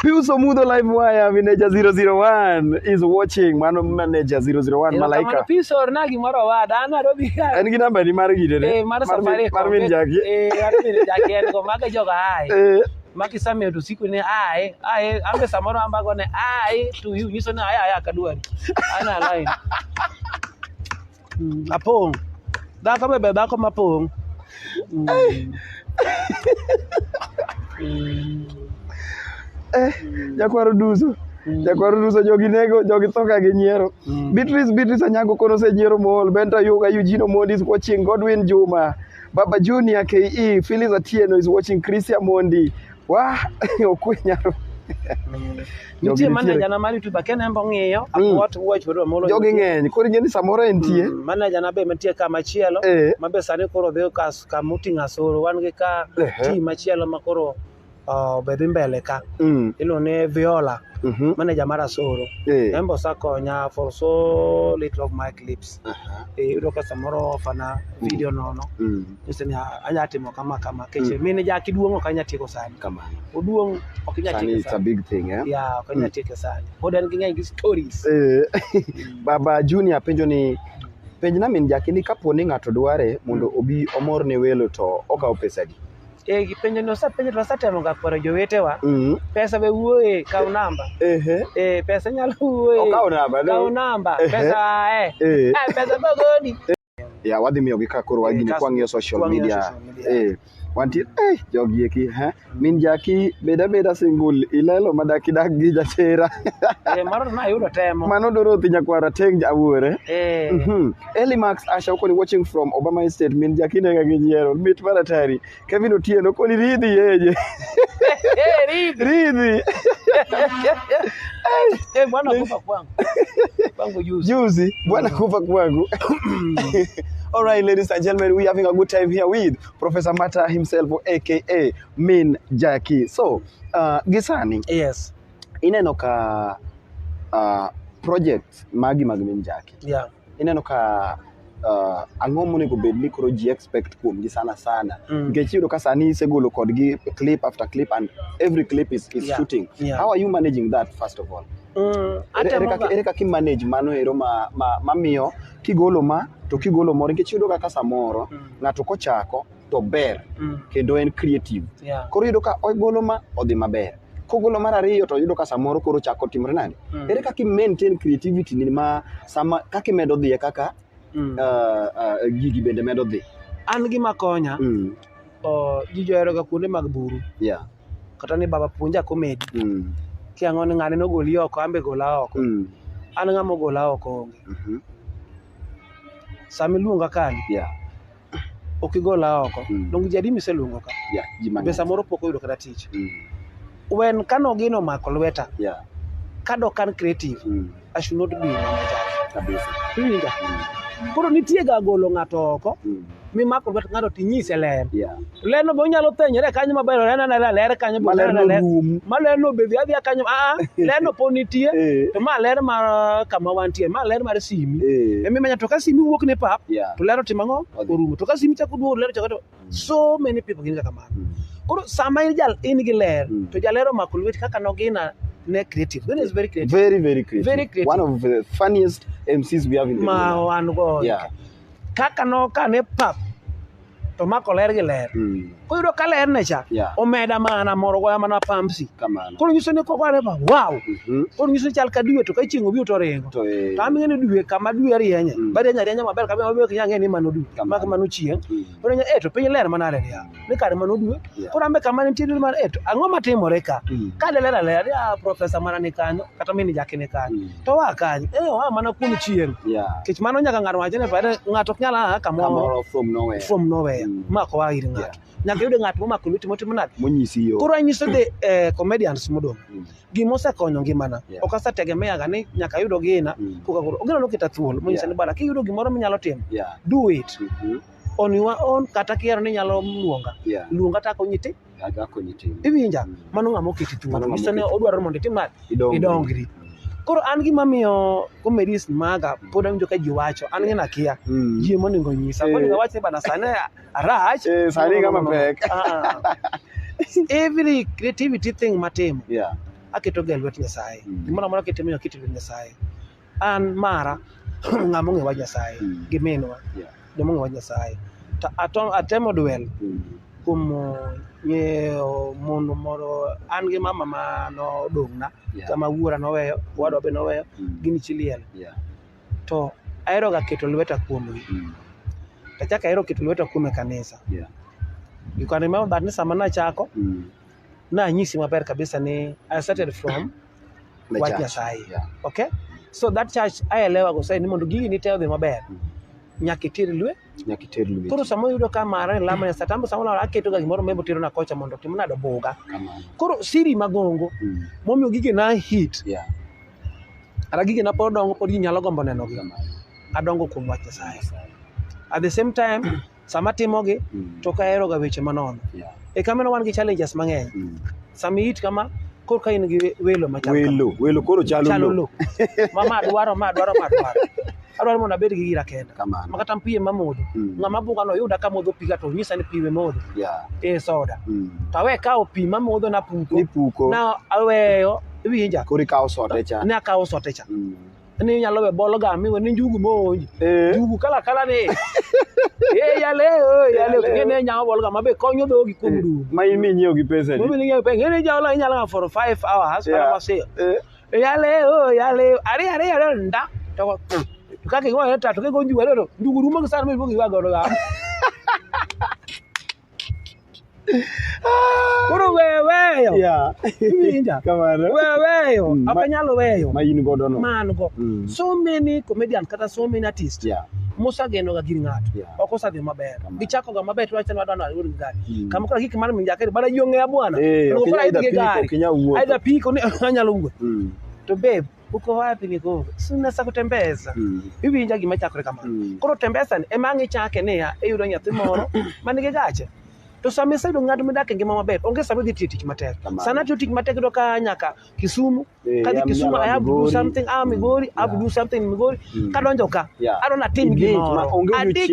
B: Pius Omudho
A: live wire manager 001 is watching mano manager 001 malaika. Pius orna gimoro
B: owada an aro bi. En gi namba ni mar gide
A: ne. Eh
B: mar
A: safari.
B: Mar min
A: jaki.
B: Eh mar
A: min
B: jaki en go
A: maga
B: joga
A: hai. Eh
B: makisameyo to siku ne aye aye ambe samoro ambago ne aye to you nyiso ne aye aye akadwari ana line Mm, apong'. Dhako be ber dhako mapong'. Mm. Mm.
A: Eh, jakwaro duso. Mm. Jakwaro duso jogi nego, jogi tho ka gi nyiero. Mm. Beatrice Beatrice Anyango kono se nyiero mool, Benta Yuga Eugene Omondi is watching, Godwin Juma, Baba Junior KE, Phyllis Atieno is watching, Christian Mondi, Wah, okwe nyaro.
B: Nitie manaja na mar YouTube ken embo ng'iyo mm. what watch wedo molo. Jogi ng'eny. Koro ing'e ni
A: samoro entie. Mm, manaja na be mantie
B: ka machielo eh. ma be sani koro dhi ka ka muting asoro wan gi ka team machielo ma koro be dhi mbele ka. Mm. Ilo ne Viola. Mm-hmm. Manaja mar asoro. Eh. Embo sakonya for so little of my clips. Aha. Eh, yudo ka samoro ofana video nono Mm. nyise ni "Ah, anya timo kama kama keche Mm. mine jaki duong' ok anya tieko sani Kamano. oduong' ok anya Sani tieko it's a sani big thing, eh? ya
A: ok anya tieko
B: sani pod en gi ng'eny gi stories Eh,
A: Baba Junior penjo ni penj na min jaki ni kapo ni ng'ato dware mondo obi omor ne welo to okawo pesa di. Eh, penjo ni
B: wasepenjo to wasetemo ga kwero jowetewa Mm. pesa be wuoye kaw namba Ehe. eh, pesa nyalo wuoye Okaw namba, no? kaw namba Ehe. pesa eh. Eh. Ah, pesa bogoni ya wadhi
A: miyo gi ka koro wagini Eh, kas- kwang'iyo social kwang'iyo media social media. eh wantie eh jogi eki ha min jaki beda beda single ilelo madaki dak gi jachera eh, mano to
B: nayudo temo mano doro thi nyakwara
A: teng awuore eh. Mhm. Eli Max Asha Okoni watching from Obama Estate min jakine ga gi nyiero mit mar atari Kevin Otieno koni ridhi yeje ridhi Eh, bwana kufa
B: kwangu. Kwangu juzi. juzi
A: bwana kufa kwangu all right ladies and gentlemen we having a good time here with Professor Mata himself aka Min Jackie so uh, Gisani Yes.
B: ineno ka
A: uh, projects magi mag min jaki yeah. ineno ka uh, ang'o monego bed ni koro ji expect kuomgi sana sana mm. nikech mm. iyudo ka sani isegolo kodgi clip after clip and every clip is, is yeah. shooting yeah. how are you managing
B: that
A: first of all mm, ere kaka imanage mano ero ma, ma, mamiyo kigolo ma to kigolo moro nikech iyudo kaka samoro mm. ng'ato kochako to ber mm. kendo en creative yeah. koro yudo ka ogolo ma odhi maber kogolo mar ariyo to yudo ka samoro koro chako timre nade mm. ere kaka maintain creativity ni ma sama kaka imedo dhiye kaka mm. uh, uh, gigi bende medo dhi an gima konya
B: mm. uh, ji johero ga kuonde mag buru yeah. kata ni baba puonja komedi mm. ki ang'o ni ng'ane nogoli oko ambe gola oko mm. an ng'ama ogola oko onge mm -hmm. sama iluonga kani yeah. ok igola oko mm. donge jadi miseluongo ka yeah, be samoro pok oyudo kata tich mm. when kano gino mako lweta yeah. kado kan creative mm. i should not be in kabisa iwinja mm. koro nitie ga golo ng'ato oko mm. mimako lwet ng'ato tinyise ler yeah. Leno be onyalo thenyore kanyo maber oneno anena ler kanyo be Maler oneno anena ler. norum. Ma ler no obedhi adhiya kanyo aa ler no pod nitie Eh. to ma ler mar kama wantie ma ler mar simi. Eh. Emi manya to ka simi wuok ne pap Yeah. to ler otimo ang'o Odhi. orumo to ka simi chako duogo ler chako to so many people gin kaka mano. Mm. Koro sama in jal in gi ler Mm. to jaler omako lweti kaka nogina ne creative. Gina is very creative. Very, very creative. Very
A: creative. One of the funniest MCs we have in the Ma world. wan go. Yeah. kaka
B: nokane pap to mako ler gi ler mm. ko yudo ka ler ne cha yeah. omeda mana moro goya mana pamsi ko nyiso ni ko kware ba wow mm -hmm. ko nyiso chal ka due to ka chieng obi to ringo to e. ta mi ne due kama due rienye mm. ba rienye rienye maber kama obi kinya ng'e ni mano due mak mano chieng mm. Onenyo eh to piny ler manade ni ah, ni kare mano due. Yeah. Koro ambe kama nitie due mar eh to ang'o matimore ka? Mm. Ka de ler aler ah profesa mana ni kanyo kata mini jaki ni kanyo. Mm. To wa kanyo eh wa mana kuom chieng'. Yeah. Kech mano nyaka ng'ato wacho ni pare ng'ato ok nyal a kamoro Kamoro from nowhere. from
A: nowhere Mm. ma ko wa ir
B: ng'ato. Nyaka yude ng'ato momako lweti motimo nade? Monyisi yo. Koro anyiso
A: de eh,
B: comedians modong'. Mm. gima osekonyo ngimana yeah. ok asetegemeaga ni nyaka ayudo gina mm. koka koro ogina noketa thuolo monyisa yeah. ni bala kiyudo gimoro minyalo timo yeah. do it mm -hmm. on your own kata kihero ni nyalo luonga yeah. luonga to akonyi ti iwinja mm. mano ng'ama oketi thuolo nyiso ni odwaro mondo itim nade idongri mm. koro an gima miyo comedies maga mm. pod awinjo ka ji wacho an gina kia mm. ji monego nyisa eh. monego awach ni bana sani Arach. Eh, sani kama
A: pek. Ah. Every
B: creativity thing matimo. Yeah. Aketo ga lwet Nyasaye. Mm. Gimoro amora kitimo yo kitiyo Nyasaye. An mara ng'ama ong'ewa Nyasaye mm. gi minwa. Yeah. Joma ong'ewa Nyasaye. To atom atemo duel. Mm. Kuom ng'eyo eh, mon moro an gi mama ma nodong'na yeah. kama wuora noweyo, wadwa be noweyo, mm. gini chiliel. Yeah. to ahero ga keto lweta kuomgi mm. achak ahero keto lweta kuom e kanisa yeah. you can remember that ni sama nachako mm. nanyisi maber kabisa ni I started from wach Nyasaye yeah. okay so that church aelewa go sai ni mondo gigi nite odhi maber mm. nyaka itir lwe nyaka iter lweti Koro sama oyudo ka mara e lama sa tambo sama olala aketo ga gimoro mebo tero na kocha mondo tim nado buga. kamano Koro siri magongo Mm, momiyo gige na hit yeah, ara gige na pod dongo pod ji nyalo gombo neno gi. kamano Adongo kuom wach Nyasaye. Nyasaye. At the same time sama timogi Mm, to ok aheroga weche manono. yeah, E kamano wan gi challenges mang'eny. mm, Sami it kama korka in gi we- welo machal kama. welo welo koro chalo chalo
A: lo lo ma
B: ma dwaro ma dwaro ma dwaro adwaro mondo abed gi gira kenda Kamano. ma kata mpiye mamodho Mm. ng'ama bunga no yuda kamodho piga to nyisa ni piwe modho yeah e soda mm. to awe kawo pi mamodho napuko nipuko na aweyo iwinja koro ikawo sote cha
A: nakawo sote cha mm.
B: ni inyalo we bolo ga miwe ni njugu monj Eh. njugu kala kala ni e yale o yale Yale. ngene nyama bolo ga mabe konyo dhogi kuom Eh, dugu ma in minyiewo gi
A: pesa Mimi ningeyo pe ngene jalo
B: inyalo ga for 5 hours Yeah. kala wase yale o yale ari ari ari nda to kake ngwa ta to ke gonju wale to njugu rumo sana mimi njugu ga ga Koro weyo weyo. Yeah. Iwinja? Kamano. Weyo
A: weyo. Mm, Ok ma-
B: anyal weyo. Ma in godo no. Man
A: go. Mm. So
B: many comedian kata so many artists. Yeah. Mosageno ga gir ng'ato. Yeah. Ok osadhi maber. Kamano. Gichako ga maber to wacho ni wadwa nalo gi gari. Mm. Kama kora gik mar minjake bana yong'e bwana. Eh, Koro ok inya idh idha gi piko,
A: gari. ok inya wuotho. Aidha
B: piko ni anyalo wuoth. Mm. To babe, uko wapi niko sunasa kutembeza mm. iwinja gima chakore kamano mm. koro tembesani ema ang' ichake niya iyudo nyathi moro ma nigi gache to sama iseyudo ng'ato midak e ngima maber onge sama idhi tiyo tich matek sana tiyo tich matek yudo ka nyaka kisumu eh, kadhi kisumu i have to do something ah migori i have to do something migori mm. kadonjo ka adona tim gimoro adich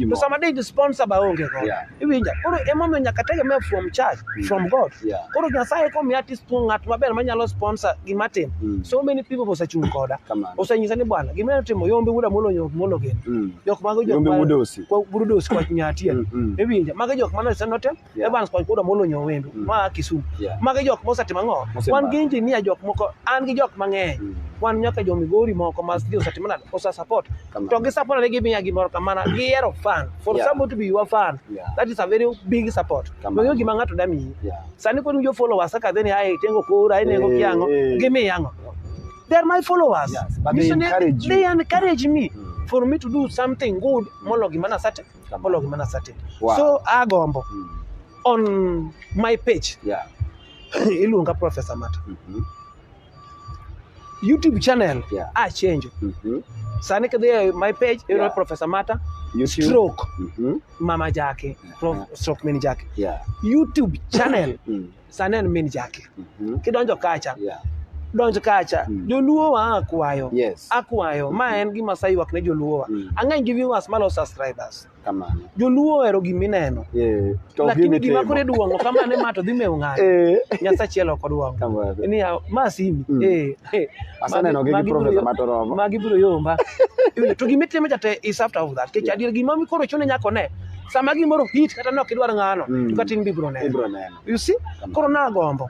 B: to sama dij sponsor ba onge go Iwinja. Koro emomiyo nyaka tegemea from church, mm. from God. Yeah. Koro Nyasaye komi artist tu ng'at maber manyalo sponsor gima tim. Mm. So many people osechung' koda. Osenyisa ni bwana, gima timo yombe wuda molo nyok molo gen. Mm. Jok mago jok ma budosi. Kwa budosi kwa nyatia. Mm. mm. Iwinja. Mago jok mana seno tem. Yeah. Evans kwa kuda molo nyok wembe. Mm. Ma Kisumu. Yeah. Mago jok mosetimo ang'o? Wan gi engineer jok moko, an gi jok mang'eny. Mm. Wan nyaka jo Migori moko ma osetimo nade? Osa support. to gi support ne gimiya gimoro kamana gihero fan for yeah. somebody to be your fan yeah. that is a very big support noyo gima ng'ato da miyi yeah. sani kod jo followers kaka dheni ae tengo kora ene go eh, kiango eh. gimi yango they are my followers yes, but they encourage,
A: they, they encourage me mm.
B: for me to do something good mm. molo gima nasate molo gima nasate wow. so agombo mm. on my page yeah. iluonga professor mata mm -hmm. YouTube channel yeah. a change mm -hmm. sani kidhi e my page iyudo yeah. Professor Mata YouTube. stroke mm -hmm. mama jake uh -huh. Prof, stroke min jake yeah. YouTube channel mm. sani en min jake mm -hmm. kidonjo kacha yeah donj kacha mm. joluo wa akwayo yes. akwayo mm -hmm. ma mm-hmm. en gima sayuak ne joluo wa mm. ang'eny gi viewers malo subscribers kamano joluo
A: ohero gima
B: ineno eh, lakini
A: gima kore
B: duong'o kamano ema to dhi mewo ng'ato eh. nyasaye achiel ok oduong'o ni ma simi mm. eh, eh.
A: aseneno gi profesa matoromo magi biro yomba
B: to gima itimo jate is after all that kech adier gima mikoro chune nyako ne sama gimoro hit kata ne ok idwar ng'ano mm. to katin bibiro neno you see koro nagombo